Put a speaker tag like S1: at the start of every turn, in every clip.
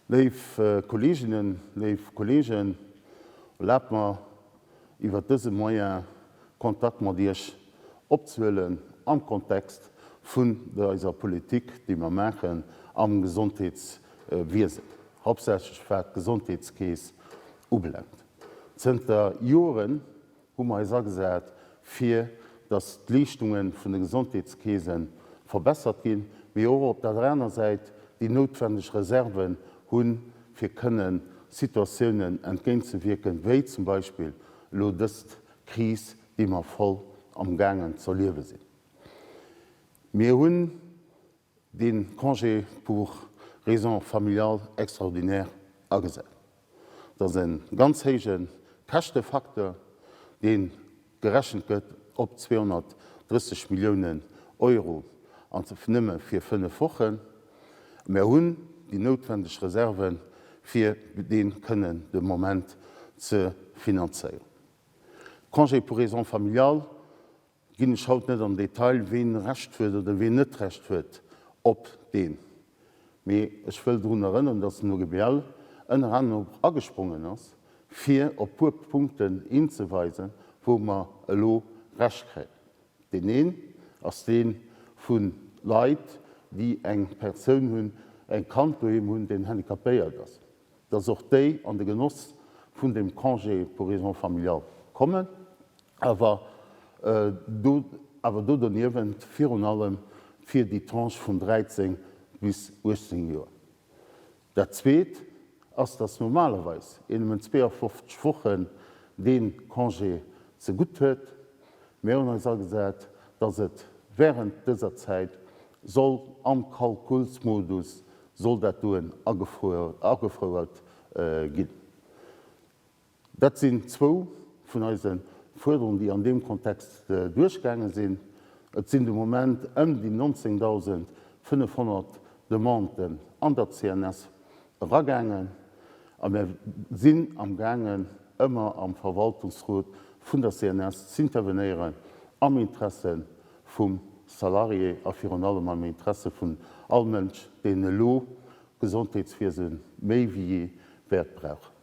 S1: Léif Kolleeginnen, léif Kolleegen, erlaabt mer, iwwert dëse Moyen Kontakt mat Iech opzehuelen am Kontext vun der eiser Politik, déi mer maachen am Gesondheetswiesen, hauptsächlech wat d'Gesondheetskeess ubelaangt. Zënter Joren hu mer eis agesat fir dass d'Leeschtunge vun de Gesondheetskeese verbessert ginn, mee och op der aner Säit déi noutwendeg Reserven hu fir kënnen Situatiounen entgéintzewierken, wéi zum Beispill elo dëst Kris, déi mer voll am gaangen z'erliewe sinn. Mir hunn. de Congé pour raisons familiales extraordinaires agesat. Et ass e ganz héije Käschtefacteur, dee gerechent gëtt op 230 Milliounen Euro, an nëmme fir fënnef Wochen. Mir hunn déi noutwendeg Reserven, fir dee kënnen de Moment ze finanzéieren. Congé pour raisons familiales Ginn ech haut net an Detail, ween Recht huet oder ween net Recht huet op deen, mee ech wëll drun erënneren, datt den OGBL ënner anerem och agesprongen ass, fir op puer Punkten hinzeweisen, wou mer elo Recht kréien. Deen een ass dee vu Leit, déi eng Persoun hunn, e Kand doheem hunn, deen handicapéiert ass. dass och déi an de Genoss vun deem Congé pour raisons familiales kommen, awer do awer do doniewent virun allem fir déi Tranche vun 13 bis 18 Joer. Dat Zweet ass, dass normalerweis een nëmmen 52 Wochen dee Congé zegutt huet. Mir hunn eis agesat, dass et während dëser Zäit soll am Kalkulsmodus Soll dat doen agefouert ginn? Dat sinn zwou vun eise Fuerderungen, déi an deem Kontext duerchgaange sinn. Et sinn de Moment ëm déi 19.500 Demanden an der CNS eragaangen a mir sinn amgaangen, ëmmer am Verwaltungsrot vun der CNS z'intervenéieren am Interesse vum Salarié a virun allem am Interesse vun all Mënsch, deen elo d'Gesondheetswiese méi wéi jee wäert brauchen.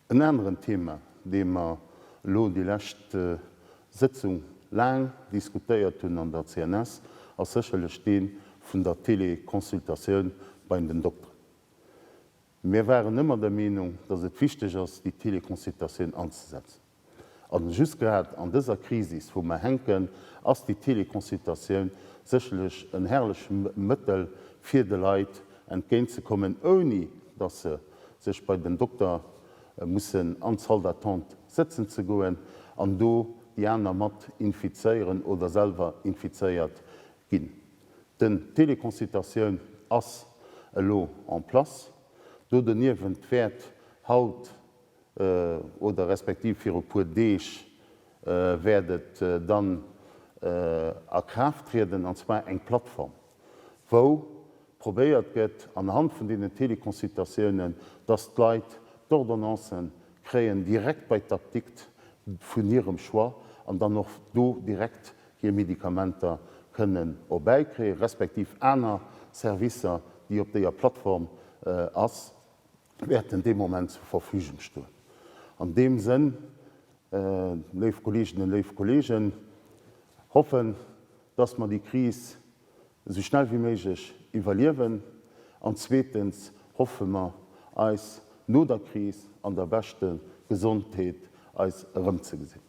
S1: En aneren Thema, dee mer elo déi lescht Sëtzung laang diskutéiert hunn an der CNS, ass sécherlech dee vun der Teleconsultatioun bei den Dokteren. Mir waren ëmmer der Meenung, dass et wichteg ass, déi Teleconsultatioun anzesetzen. A just grad an dëser Krisis, wou mer hänken, ass déi Teleconsultatioun sécherlech en herrleche Mëttel, fir de Leit entgéint ze kommen, ouni dass se sech bei den Dokter mussen an d'Salle d'attente sëtzen ze goen an do déi aner mat infizéieren oder selwer infizéiert Ginn. Den Téléconsultatioun ass elo en place. Do doniewent wäert haut oder respektiv viru e puer Deeg wäert et dann a Kraaft trieden, an zwar eng Plattform, wou probéiert gëtt anhand vun deenen Téléconsultatiounen, dass d'Leit d'Ordonnancen kréien direkt bei d'Apdikt vun hirem Choix an dann och do direkt hir Medikamenter kënnen erbäikriegen, respektiv aner Servicer, déi op déier Plattform ass, wäerten dee Moment zur Verfügung stoen. An deem Sënn, léif Kolleeginnen, léif Kolleegen, hoffen, dass mer déi Kris esou schnell wéi méiglech iwwerliewen, an zweetens hoffe mer, eis no der Kris an der beschte Gesondheet eis erëmzegesinn.